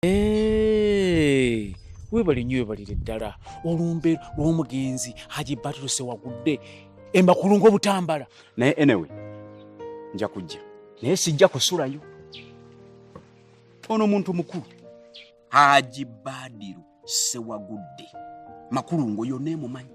Hey, webale nyo webalire ddala olumbe lw'omugenzi haji batruse wagudde emakulu ng'obutambala naye enewe nja kujja naye sijja kusulayo ono muntu mukulu haji badiru sewagudde makulungo yona emumanyi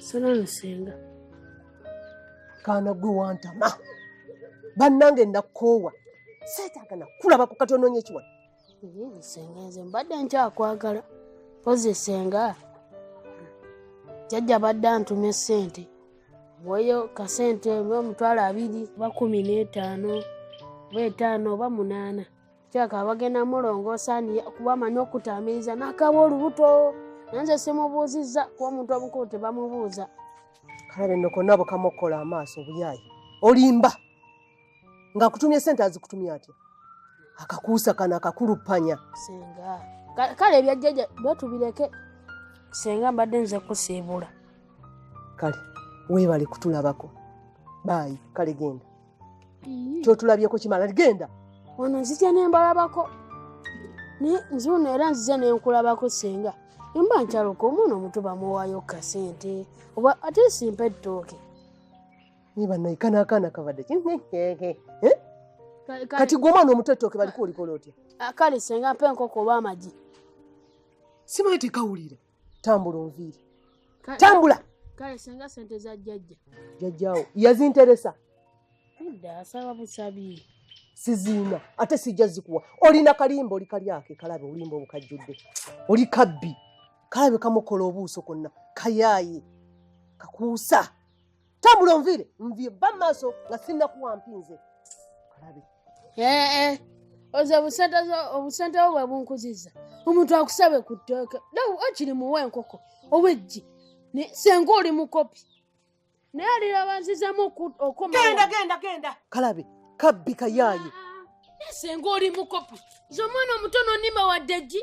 Salon senga. Kana gwe wantama. Bannange nakoowa. Seetaaga nakulabako kati onoonya ekiwala. senga nze mbadde nkyakwagala pozi senga jajja badde antuma esente weyo kasente bamitwalo abiri bakumi n'etaano oba etaano oba munaana kyaka bagenda mulongoosa kuba amanyi okutaamiriza nakaba olubuto nanze simubuuzizza kuba omuntu omukulu tebamubuuza kalabe nokonaabo kamukukola amaaso obuyaayi olimba ng'akutumye sente azikutumye atya akakuusa kano akakuluppanya senga Ka- kale ebyajjaja betubireke senga mbadde nze kusiibula kale weebale kutulabako baayi kale genda kyotulabyeko kimala genda ono nzija nembalabako naye nzuuno era nzija nenkulabako senga emba nkyaluka omwana omuto bamuwaayo kasente oba ate simpa ettooke Naye banaye kana akaana kabadde ki? Hehehe. Eh? Kale- kale- Kati gwe omwana omuto ettooke baliko olikola otya? Ah, kale senga mpa enkoko oba amagi Simanyi tekawulira. Tambula onviire. Kale- Tambula. kale senga sente za jjajja Jajjaawo yazinteresa. nedda asaba busabi siziina ate sijja zikuwa olina kalimba oli kalyake kalabe olimba obukajjudde oli kabbi kalabe kamukola obuuso konna kayaye kakuusa tambula onviire nvie ba maaso nga sinnakuwa mpinze kalabe ee eh, eh. oze obusente bwo bwe bunkuziza omuntu akusabe ku tteeka nawe okiri muwa enkoko oweggi senga oli mukopi naye alirabanzizamu okomagenda genda genda kalabe kabbi kayaaye ah, senga oli mukopi nze omwana omuto nonima wadde ggi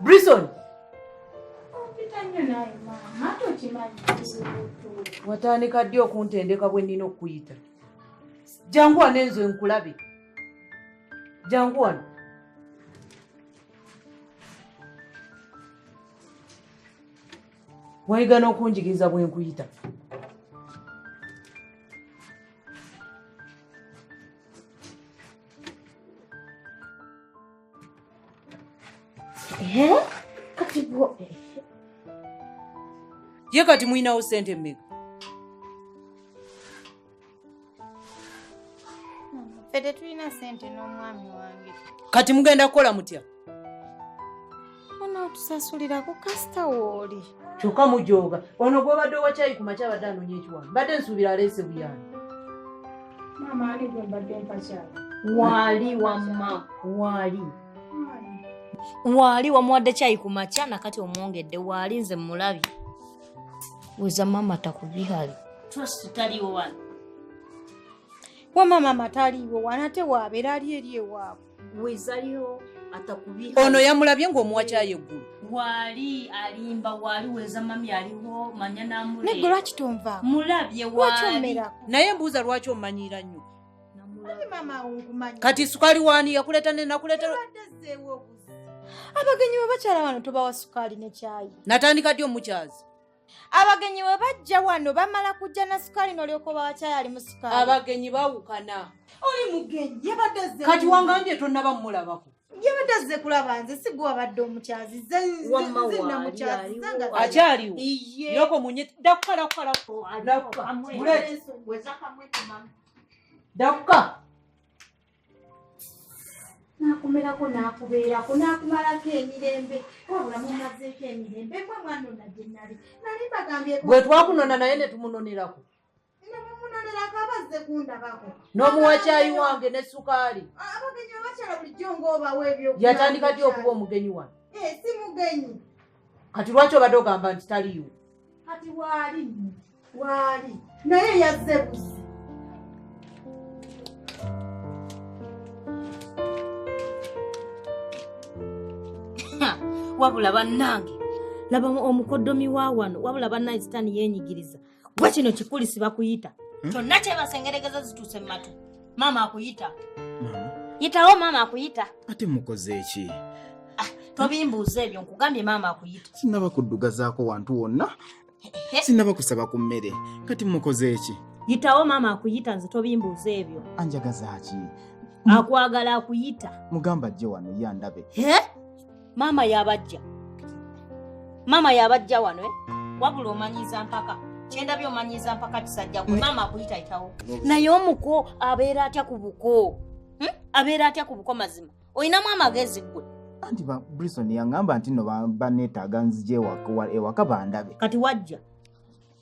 Brison. Watandika ddi okuntendeka bwe nnina okukuyita? Jangu wano enzo enkulabe. Jangu wano. Wayiga n'okunjigiriza bwe nkuyita. ye kati mulinawo sente mmeka ffe tetulina sente n'omwami wange kati mugenda kukola mutya onaatusasulira ku kasita wooli kyokka mujooga ono gwobadde owakyayi ku makya abadde anoonya ekiwano mbadde nsuubira aleese buyani maama ali gwe mbadde mpakyalo waali wamma waali waali wamuwadde kyayi ku makya nakati omwongedde waali nze mulabye weza maama takubihali wama maama taliiwo wana ate waabeera ali eri ewaabwe wezayo atakubiha ono yamulabye ng'omuwa kyayo eggulu waali alimba waali weza mami aliwo manya namulegwe lwaki tonva mulabye waali naye mbuuza lwaki omanyiira nnyo kati sukaali waani yakuleeta ne nakuleeta abagenyi babakyala bano tobawa sukaali ne kyayi natandika ddi omukyazi abagenyi we bajja wano bamala kujja na sukaali nolyoka oba wakyayali mu sukaali abagenyi bawukana oli mugenyi yabadde ze kati wangambye tonaba mulabako yabadde azze kulaba nze sigwe wabadde omukyazi akyaliwo yoko munye dakukalakukalakuka nakumerako nakubeerako nakumalako emirembe wabula mumazeeko emirembe mwe mwanona gye nali nali mbagambyeko bwe twakunona naye ne tumunonerako nemumunonerako abazze kundabako n'omuwa kyayi wange ne sukaali abagenyi babakyala bulijjo ngaobawa ebyo yatandika ddi okuba omugenyi wano eh, si mugenyi kati lwaki obadde ogamba nti taliiwo kati waali waali naye yazze buzi wabula bannange laba omukodomi wa wano wabula bannange sitaani yeenyigiriza gwe kino kikuli sibakuyita hmm? kyonna kyebasengeregeza zituuse mu matu maama akuyita yitawo maama akuyita ate mukoze eki ah, tobimbuuza ebyo nkugambye maama akuyita sinaba kuddugazaako wantu wonna sinaba kusaba ku mmere kati mukoze eki yitawo maama akuyita nze tobimbuuza ebyo anjagazaaki akwagala akuyita mugamba ajje wano ye andabe maama yabajja maama yabajja wano eh? wabula omanyiza mpaka kyendabye omanyiza mpaka kisajja gwe maama akuyitayitawo naye omuko abeera atya ku buko hmm? abeera atya ku buko mazima olinamu amagezi gwe anti brison yangamba nti no banetaaga nzija ewaka bandabe kati wajja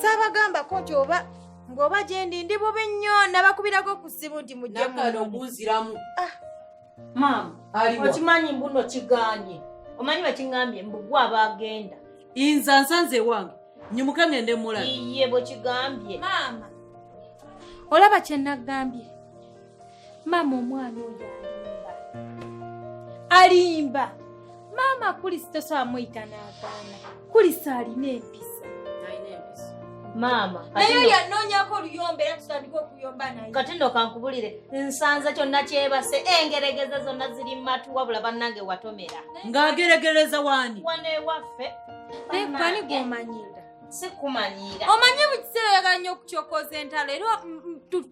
saabagambako nti oba ng'oba gyendi ndi bubi nnyo nabakubirako ku ssimu nti mujjemunogunziramu ah. maama okimanyi mbuno kiganye omanyi bakiŋambye mbugwa abagenda inza nsanze ewange nyimuke ngende mulaye bwekigambye maama olaba kyenagambye maama omwana oyo alimba alimba maama kulisi tosobola muyita n'agaana kulisi alina empisa maama naye oyo anoonyako oluyomba era tutandika okuyomba naye kati nno kankubulire nsanze kyonna kyebase engeregeza zonna ziri matu wabula bannange watomera ng'ageregereza waani wano ewaffe naye kwani gwomanyira sikumanyiira omanyi buli kiseera oyagala nnyo okukyokoza entalo era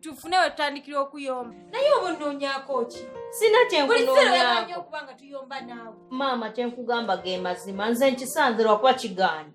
tufune we tutandikira okuyomba naye oba onoonyaako ki sina kyenkunoonyaako okuba nga tuyomba naawe maama kyenkugamba ge mazima nze nkisanze lwakuba kigaanyi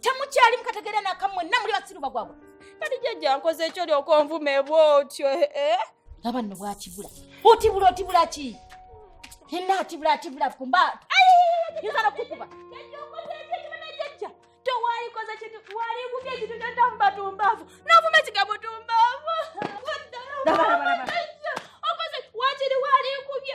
temukyali mukategeera naka mwenna muli basiru bagwagwa kati jajja nkoze ekyo lyoka onvuma ebwa otyo eh, eh? laba nno bwakibula otibula otibula ki enna atibula atibula kumba yinza nokukuba towalikoze kintu waligubye ekintu kyotamumba tumbavu novuma ekigambo tumbavu okoze wakiri waligubye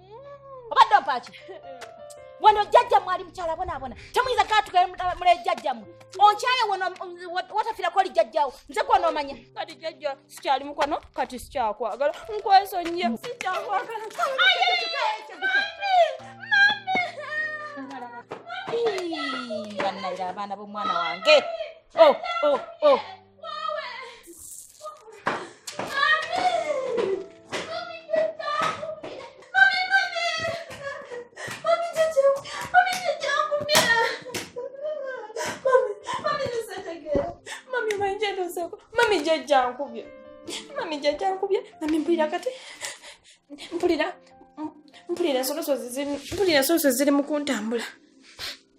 obadde ompaaki wano jjajja mwali mukyala bonaabona temuyinza katuka mule jjajja mwe onkyaye watafirako oli jjajjawo nze kwona omanya kati jjajja sikyali mukwano kati sikyakwagala nkwesonyiye sikyakwagala bannayira abaana b'omwana wange oh, oh, oh. jajjankubye mami jajjankubye mami mpulira kati mpulira mpulira ensoloso ziri mpulira ensoloso ziri mu kuntambula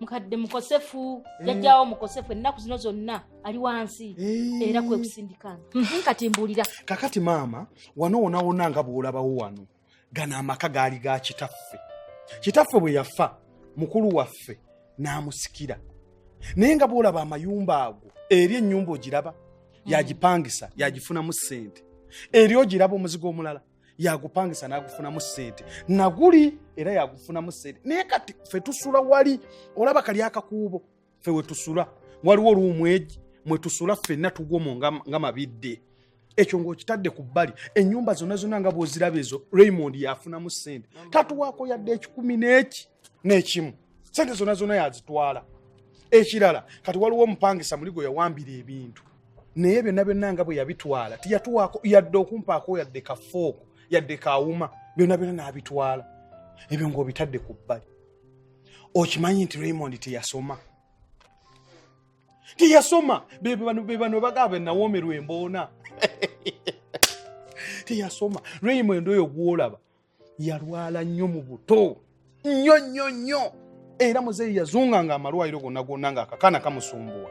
mukadde mukosefu eh. jajjawo mukosefu ennaku zino zonna ali wansi eh. era kwekusindikana mhm, kati mbuulira kakati maama wano wonawona nga bwolabawo wano gano amaka gaali ga kitaffe kitaffe bwe yafa mukulu waffe n'amusikira naye nga bwolaba amayumba ago eri ennyumba ogiraba mm. yagipangisa yagifunamu ssente eri ogiraba omuzigo omulala yagupangisa nagufunamu sente naguli era yagufunamu sente naye kati fe tusula wali olaba kali akakuubo fe wetusula waliwo oluumu egi mwetusula fenna tugwomu nga mabidde ekyo ngaokitadde ku bbali enyumba zonna zonna nga bwoziraba ezo raymond yafunamu sente tatuwaako yadde ekikumi neki nekimu sente zonna zonna yazitwala ekirala kati waliwo omupangisa muli gwe yawambira ebintu naye byonna byonna nga bwe yabitwala tiyatuwaako yadde okumpaako yadde kafooko yadde kawuma byonna byonna n'abitwala ebyo ng'obitadde ku bbali okimanyi nti raymond teyasoma teyasoma bebano bagaa benawoomerwa emboona teyasoma raymond oyo gwolaba yalwala nnyo mu buto nnyo nnyo nnyo era muzeeyi yazunga nga amalwaliro gonna gonna nga akakana kamusumbuwa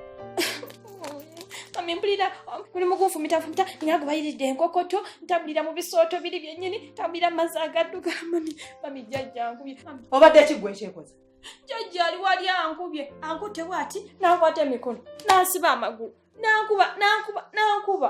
mpulira buli um, mugunfumitafumita nga gubayiridde enkokoto ntambulira mu bisooto biri byennyini ntambulira mu mazzi agadduga mami mami jjajjankubye obadde kigwe ekyekoza jjajja ali wali ankubye ankute waati n'ankwata emikono n'ansiba amagulu n'ankuba n'ankuba n'ankuba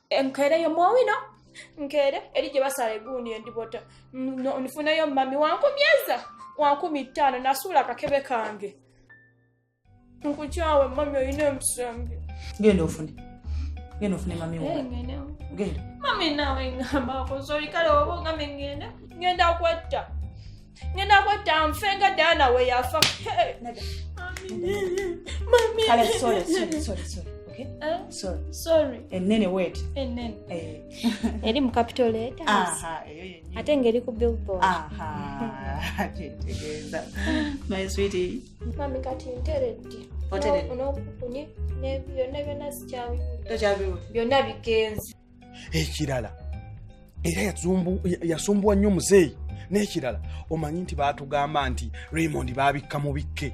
enkereyo mwowino nkere eri gye basala eguuni endibota nfuneyo mami wankumyeza wankumi ttaano nasuula akakebe kange nkukyawe mami olina emusembe genda ofune genda ofune mami eh, genda mami nawe ngamba akoze olikale oba ogambye ngenda ngenda kwetta ngenda kwetta nfe nga daana we yafa enene wet eri mu capitolate ate ngeri ku billboard kyetegeeza my sweetie mami kati nteredde onokukunye byonna byonna sikyabiwulira byonna bigenze ekirala era yasumbuwa nnyo muzeeyi n'ekirala omanyi nti baatugamba nti raymond baabikka mu bikke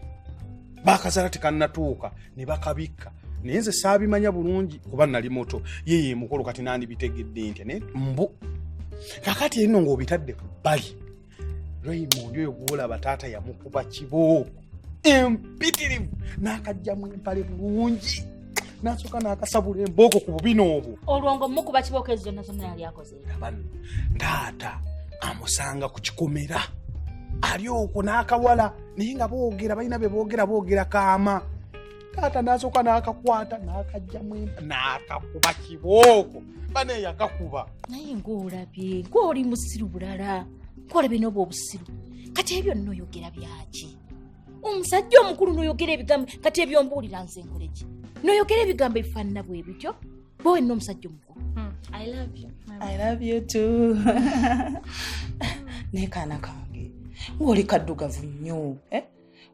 baakazala tekannatuuka ne bakabikka naye nze saabimanya bulungi kuba nali moto yeye emukulu kati nandibitegedde ntya naye mbu kakati erino ng'obitadde ku bbali raymond oyo gwolaba taata yamukuba kibo empitirivu n'akajjamu empale bulungi n'asooka n'akasabula embooko ku bubina obwo olwo nga omukuba kibooko ezo zonna zonna yali akoze abanno taata amusanga ku kikomera ali okwo n'akawala naye nga boogera balina be boogera boogera kaama taata nasooka n'akakwata n'akajjamu empa n'akakuba kibooko bane yakakuba naye ng'olabye ng'oli musiru bulala ng'olabye n'oba obusiru kati ebyo nno oyogera byaki omusajja omukulu noyogera ebigambo kati ebyombuulira nze nkoleki noyogera ebigambo ebifaanana bwe bityo bwe wenna omusajja omukulu hmm, naye kaana kange ng'oli kaddugavu nnyo eh?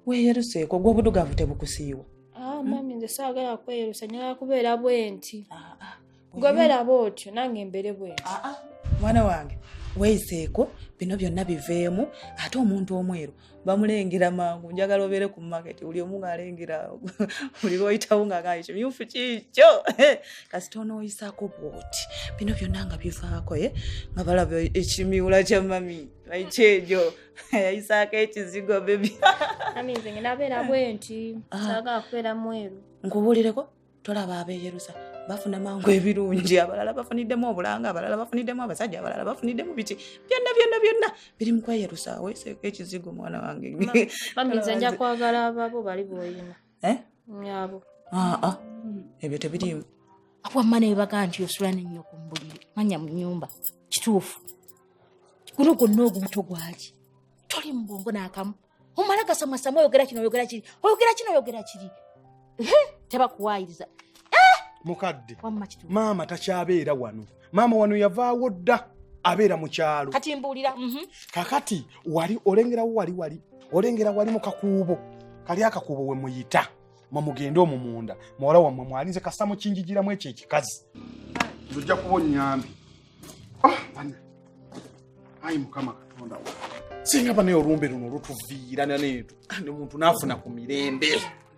weeyeruseeko gw'obudugavu tebukusiiwa ah, mami nze saagala kweyerusa nyala kubeera bwenti ah, ah, gobeera bwotyo nange mbere bwenti mwana wange weeyiseeko bino byonna biveemu ate omuntu omweru bamulengera mangu njagala obeere ku maketi buli omu ngaalengera buli lwoyitawo ngaagaa kimyufu kiikyo kasita onooyisaako bwoti bino byonna nga bivaako ye eh? nga balaba ekimiwula kya mami ekyejo yayisaako ekizigo bebi aminze ngenda beera ah. bwenti ah. saagala kubeera mweru nkubuulireko tolaba abeeyerusa bafuna mangu ebirungi abalala bafuniddemu obulanga abalala bafuniddemu abasajja abalala bafuniddemu biki byonna byonna byonna biri mukweyerusa weseeko ekizigo mwana wange nja kwagala ababo bali boyina eh? nyabo aa ah, ah. ebyo tebiriimu wamma nebaga nti osula nenyo ku mbuliri manya mu nyumba kituufu guno gwonna ogubuto gwaki toli mu bwongo n'akamu omala gasamasama oyogera kino oyogera kiri oyogera kino oyogera kiri tebakuwayiriza eh! mukadde maama takyabeera wano maama wano yavaawo dda abeera mu kyalo kati mbuulira mhm. kakati wali olengerawo wali wali olengera wali mu kakuubo kali akakuubo we muyita mwemugende omwo munda muwala wammwe mwalinze kasa mukinjijiramu ekyo ekikazi ojja kuba onyambi ah, ayi mukama katonda singa banaye olumbe luno lutuviira nanetu kandi omuntu naafuna ku mirembe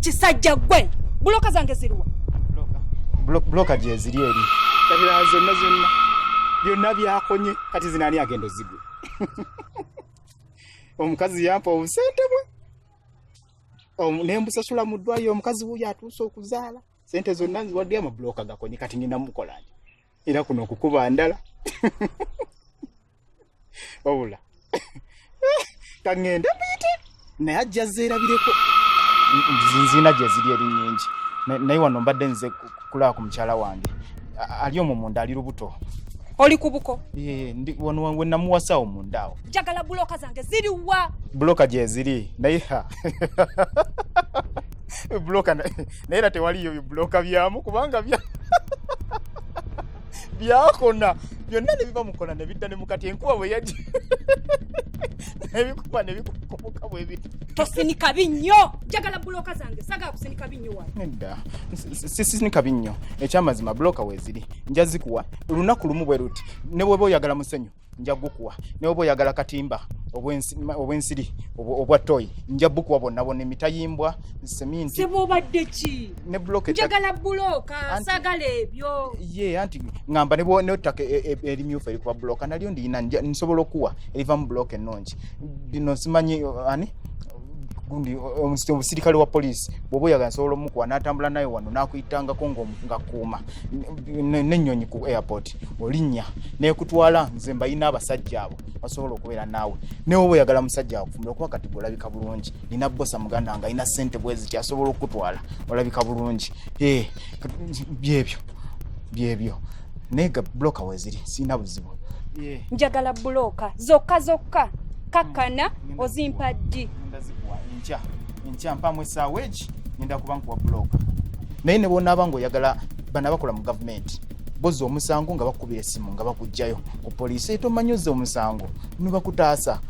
kisajja gwe buloka zange ziriwa buloka gyeziri eri kabira zonna zonna byonna byakonye kati zinaani agenda ozigwe omukazi yampa obusente bwe nembusasula mu ddwayo omukazi wuyo atuuse okuzaala sente zonna nziwadde amabulooka gakonye kati ngenda mukolanje era kuno okukuba ndala wabula kangenda muyite naye ajja zeerabireko nzina gyeziri eri nyingi naye wano mbadde nze kulaba ku mukyala wange ali omwo munda ali lubuto oli kubuko wenamuwasawo mundaawo njagala buloka zange ziriwa buloka gyeziri naye buloka naye era tewaliyo bibuloka byamu kubanga bya byakona byonna ne biva mukona ne bidda ne mukati enkuba bwe yajja nebikuba nebikukomoka bwe biri tosinika binnyo njagala buloka zange sagala kusinika binnyo wa nedda sisinika binnyo ekyamazima buloka weeziri nja zikuwa lunaku lumu bwe luti ne bweba oyagala musenyu nja gukuwa naye oba oyagala katimba obwensiri obwa toyi nja bukuwa bonna bonna emitayimbwa seminti sebo obadde ki ne bloke njagala buloka sagala ebyo ye anti ngamba ne ne take e, e, eri myufu eri kwa bloka nalyo ndi ina nsobola okuwa eriva mu bloke nonji dino simanyi ani gundi omusirikale wa police bwoba oyagala nsobola omukuwa natambula naye wano nakuyitangako ngakuuma nenyonyi ku airport olinya nekutwala nze mbayina abasajja abo basobola okubeera naawe newe bweyagala musajja wakufumira okuba kati olabika bulungi nina bosa muganda nga alina sente bweziti asobola okukutwala olabika bulungi eh, byebyo byebyo naye ga buloka weziri sirina buzibu eh. njagala buloka zokka zokka kakkana hmm. ozimpa ddi nkya nkya mpamu esaawa egi gavumenti ngenda kuba nkuwa buloka naye ne bwonaaba ngaoyagala bana bakola mu gavumenti boza omusango nga bakukubira essimu nga bakugjayo ku poliisi etomanyi ozza omusango nibakutaasa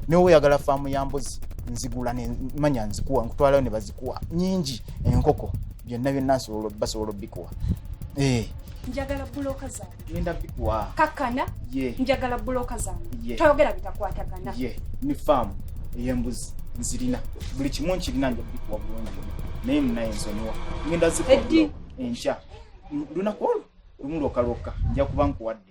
nawe oyagala faamu ya mbuzi nzigula nemanya nzikuwa nkutwalayo ne bazikuwa nyingi enkoko byonna byonna basobola obikuwa eh. njagala buloka zange ngenda bikuwa kakkana yeah. njagala buloka zange yeah. toyogera bitakwatagana ye yeah. ni faamu ey'embuzi nzirina buli kimu nkirina nja bikuwa bulungi naye munaye nsonyiwa ngenda zikuwa enkya lunaku olwo lumu lwoka lwokka nja kuba nkuwadde